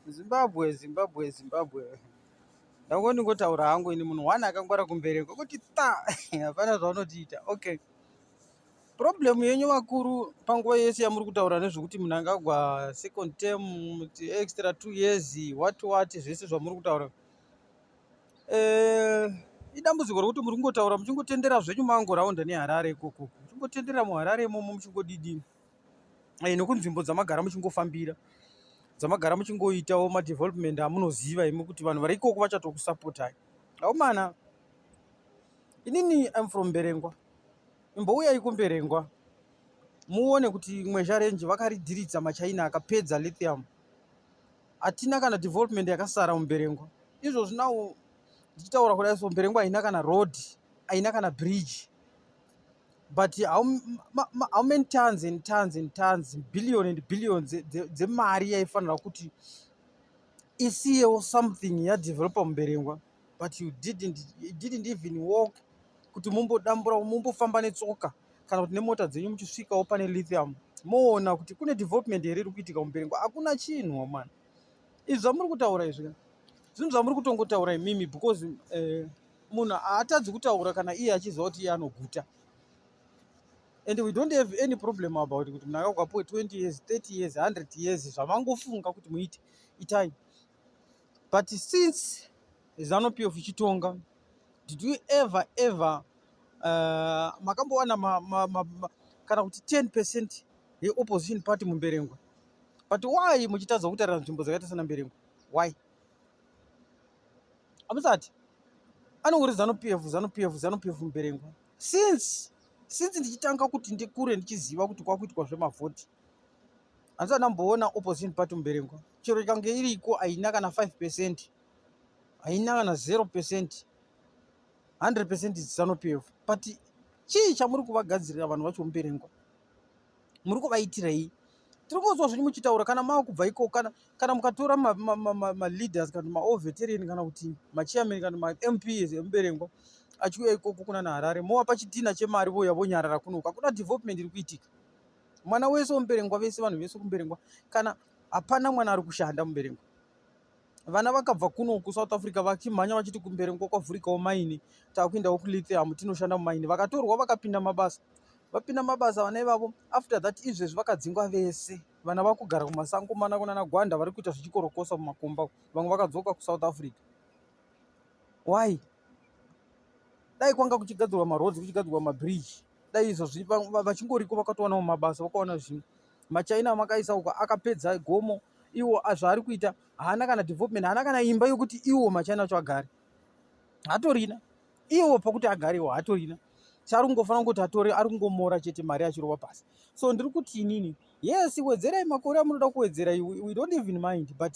Zimbabwe, Zimbabwe, Zimbabwe. Ndango ndingotaura hangu ini munhu one akangwara kumberi kwekuti ta hapana zvaunotiita. Okay. Problem yenyu vakuru panguva yese yamuri kutaura nezvekuti munhu angagwa second term extra two years what what zvese zvamuri kutaura. Eh, idambudziko rekuti muri kungotaura muchingotendera zvenyu mango round neHarare ikoko. Muchingotendera muHarare imomo muchingodidini. eh, nekunzvimbo dzamagara muchingofambira dzamagara muchingoitawo madevelopment amunoziva imi kuti vanhu vari ikoko vachatokusapotai aumana inini im from mberengwa imbouyai kumberengwa muone kuti mweja renji vakaridiridza machaina akapedza lithium hatina kana development yakasara mumberengwa izvozvi nawo ndichitaura kudai so mberengwa haina kana road haina kana bridge but how, ma, ma, how many tons and tons and tons billion and billion dzemari yaifanira kuti isiyewo something yadeveloper muberengwa but you didn't, you didn't even walk kuti mumbodambura mumbofamba netsoka kana kuti nemota dzenyu muchisvikawo pane lithium moona kuti kune development here iri kuitika muberengwa hakuna chinhu mani izvi zvamuri kutaura izvi zvinhu zvamuri kutongotaura imimi because uh, munhu haatadzi kutaura kana iye achiziva kuti iye anoguta and we don't have any problem about kuti munhu akakwapuwe 20 years 30 years 100 years zvamangofunga kuti muite itai but since zanup of ichitonga did you ever ever uh, makambowana ma, ma, ma, ma, kana kuti 10 percent yeopposition party mumberengwa but why muchitadza kutarira nzvimbo dzakaita sana mberengwa why amusati anongori zanu pf zanu pf zanu pf muberengwa since since ndichitanga kuti ndikure ndichiziva kuti kwakuitwa zvemavhoti handisati ndamboona opposition party muberengwa chero ikange iriko haina kana 5 percent haina kana 0 percent 100 percent zanu pf but chii chamuri kuvagadzirira vanhu vacho muberengwa muri kuvaitirei tiri kunzwa zvenyu muchitaura kana mava kubva ikoko kana, kana mukatora maleaders ma, ma, ma kana kuti maoveterian kana kuti machairman kana mamps emuberengwa achiuya ikoko kuna naharare movapa chitina chemari voya vonyarara kunoku hakuna development iri kuitika mwana wese wemuberengwa vese vanhu vese kumuberengwa kana hapana mwana ari kushanda muberengwa vana vakabva kuno kusouth africa vachimhanya vachiti kumberi ngo kwavhurikawo maini takuendawo kulithium tinoshanda mumaini vakatorwa vakapinda mabasa vapinda mabasa vana ivavo after that izvezvi vakadzingwa vese vana vakugara kumasango mana kunana gwanda vari kuita zvichikorokosa mumakomba vamwe vakadzoka kusouth africa why dai kwanga kuchigadzirwa maroads kuchigadzirwa mabridge dai izvozvi vachingoriko vakatowanawo mabasa vakawana zvinhu machaina amakaisa uko akapedza gomo iwo zvaari kuita haana kana development haana kana imba yokuti iwo machaina acho agare hatorina iwo pokuti agarewo hatorina chaari kungofanira kungokuti atore ari kungomora chete mari achirova pasi so ndiri kuti inini yes wedzerai makore amunoda kuwedzera we don't even mind but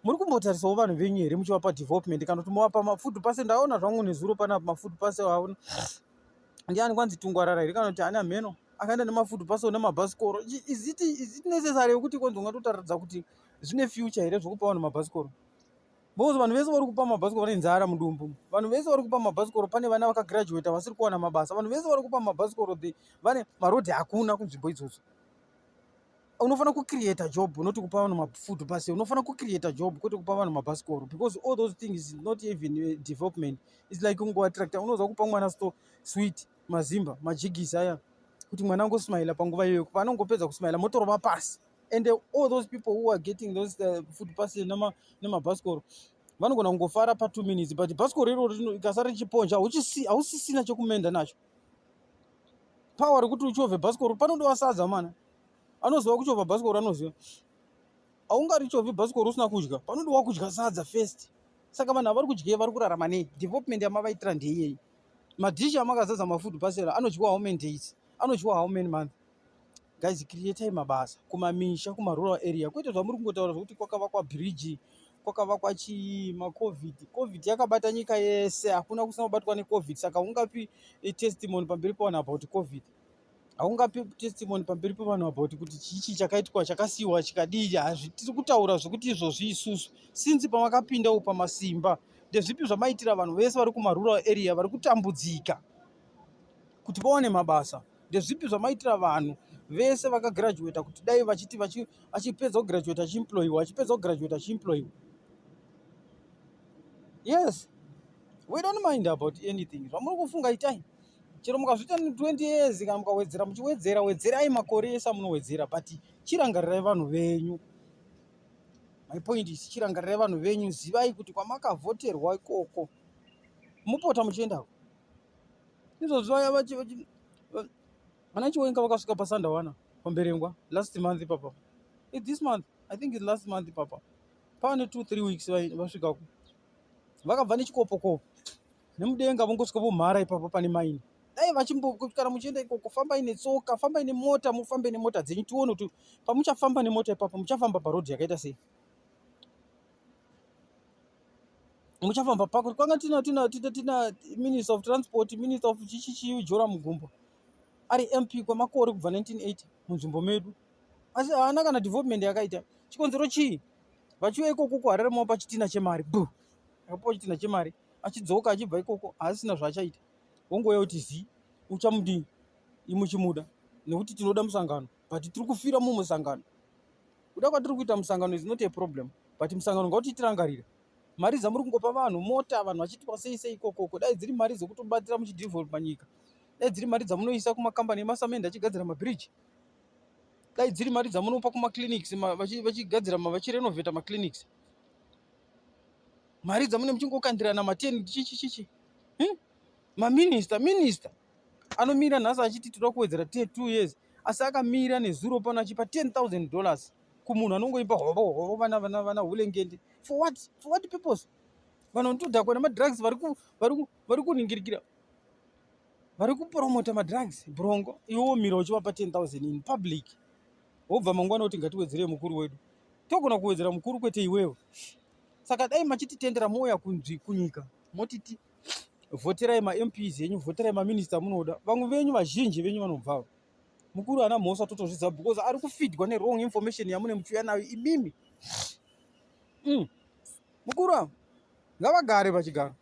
muri kumbotarisawo vanhu venyu here muchivapa development kana kuti movapa mafood pase ndaona zvangu nezuro panapa mafood pase aona ndiani kwanzi tungwarara here kana kuti ani amheno akaenda nemafood pase one mabhasikoro iziti iziti necessary yekuti kwanzi ungatotaridza kuti zvine future here zvekupa vanhu mabhasikoro because vanhu vese vari kupa mabhasikoro vane nzara mudumbu vanhu vese vari kupa mabhasikoro pane vana vakagraduata vasiri kuwana mabasa vanhu vese vari kupa mabhasikoro the vane marodhi hakuna kunzvimbo idzodzo unofanira kucreata job not kupa vanhu mafood pase unofanira kucreata job kwete kupa vanhu mabhasikoro because all those things is not even eh, development is like ungoattracta unoziva kupa mwana sto sweet mazimba majigisi aya kuti mwana angosmaila panguva iyoyo paanongopedza kusmaila motorova pasi and eh, all those people who are getting those uh, food pase nemabhasikoro vanogona kungofara patwo minutes but bhasikoro iroro ikasara richiponja hausisina chekumenda nacho power rekuti uchove bhasikoro panodowa sadza mana anoziva kuchovha bhasikoro anoziva haungarichovhi bhasikoro usina kudya panode wakudya sadza first saka vanhu havari kudyei vari kurarama nei development yamavaitira ndeiyeyi madhishi amakazadza mafood pasera anodyiwa how many days anodyiwa how many month guys creatai mabasa kumamisha kumarural area kwete zvamuri kungotaura zvokuti kwakavakwa bridge kwakavakwa chii macovid covid yakabata nyika yese hakuna kusina kubatwa necovid saka ungapi testimony pamberi pavanhu apa kuti covid haungape testimony pamberi pevanhu about kuti chichi chakaitwa chakasiyiwa chikadii hazvitiri kutaura zvekuti izvozvi isusu since pamakapinda u pamasimba ndezvipi zvamaitira vanhu vese vari kumarural area vari kutambudzika kuti vaone mabasa ndezvipi zvamaitira vanhu vese vakagraduata kuti dai vachiti achipedza kugraduata achiemployiwa achipedza kugraduata achiemployiwa yes we don't mind about anything zvamuri kufunga itai chero mukazviita 20 years kana mukawedzera muchiwedzera wedzerai makore ese amunowedzera but chirangarirai vanhu venyu my point is chirangarirai vanhu venyu zivai kuti kwamakavhoterwa ikoko mupota muchiendako izvozvi vaya vana chiwenga vakasvika pasandawana pamberengwa last month ipapa it this month i think it last month ipapa pane two three weeks vasvikako vakabva nechikopokopo nemudenga vongosvika vomhara ipapo pane maini dai vachimbokutikana muchienda ikoko fambai netsoka fambai nemota mufambe nemota dzenyu tione kuti pamuchafamba nemota ipapo muchafamba parodhi yakaita sei muchafamba pako kwanga tina tina tina tina minister of transport minister of chichichiyu jora mugumbo ari mp kwemakore kubva 1980 munzvimbo medu asi haana kana development yakaita chikonzero chii vachiuya ikoko kuharare mao pachitina chemari bu akapuwa chitinha chemari achidzoka achibva ikoko haasina zvaachaita wongouya kuti zii uchamudii imuchimuda nekuti tinoda musangano but tiri kufira mumusangano kuda kwatiri kuita musangano is not a problem but musangano ngauti tirangarire mari dzamuri kungopa vanhu mota vanhu vachitwa sei sei ikokoko dai dziri mari dzekutobatira muchidevelopa nyika dai dziri mari dzamunoisa kumakambani emasamende achigadzira mabridge dai dziri mari dzamunopa kumaclinics vachigadzira vachirenovheta maclinics mari dzamune muchingokandirana mateni chichichichi hmm? maminista minista anomira nhasi achiti tinoda kuwedzera t two years asi akamira nezuro pano achipa ten thousand dollars kumunhu anongoipa hovo hovo vana vana vana hulengende for what for what purpose vanhu vanotodhakwa nemadrugs vari kuningirikira vari kupromota madrugs brongo iwo mira uchivapa ten thousand in public wobva mangwana kuti ngatiwedzerei mukuru wedu togona kuwedzera mukuru kwete iwewe saka dai machititendera mouya kunzwi kunyika motiti vhoterai mamps enyu vhoterai maminista munoda vamwe venyu vazhinji venyu vanobvavo mukuru ana mhosva totozvidza because ari kufidwa newrong information yamune muchiuya nayo imimi mm. mukuru avo ngavagare pachigaro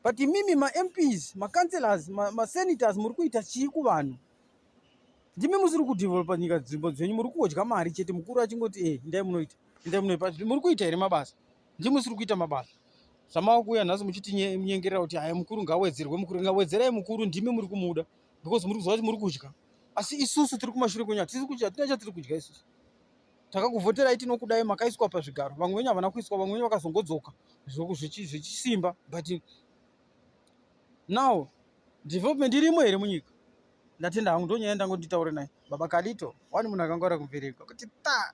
but imimi mamps macancelors masenators ma muri kuita chii kuvanhu ndimi musiri kudevelopa nyika dzimbo dzenyu muri kudya mari chete mukuru achingoti e ndai munoita ndai munoipa muri kuita here mabasa ndimi musiri kuita mabasa zvamava kuuya nhasi muchitinyengerera kuti haya mukuru ngawedzerwe mukuru ngawedzerai mukuru ndimi muri kumuda because muri kuziva kuti muri kudya asi isusu tiri kumashure kwenyu hatisi kudya hatina chatiri kudya isusu takakuvhoterai tinokudai makaiswa pazvigaro vamwe venyu havana kuiswa vamwe venyu vakazongodzoka zvichisimba but now development irimo here munyika ndatenda hangu ndonyaya ndangonditaure naye baba kalito wani munhu akangwara kumbereka kuti ta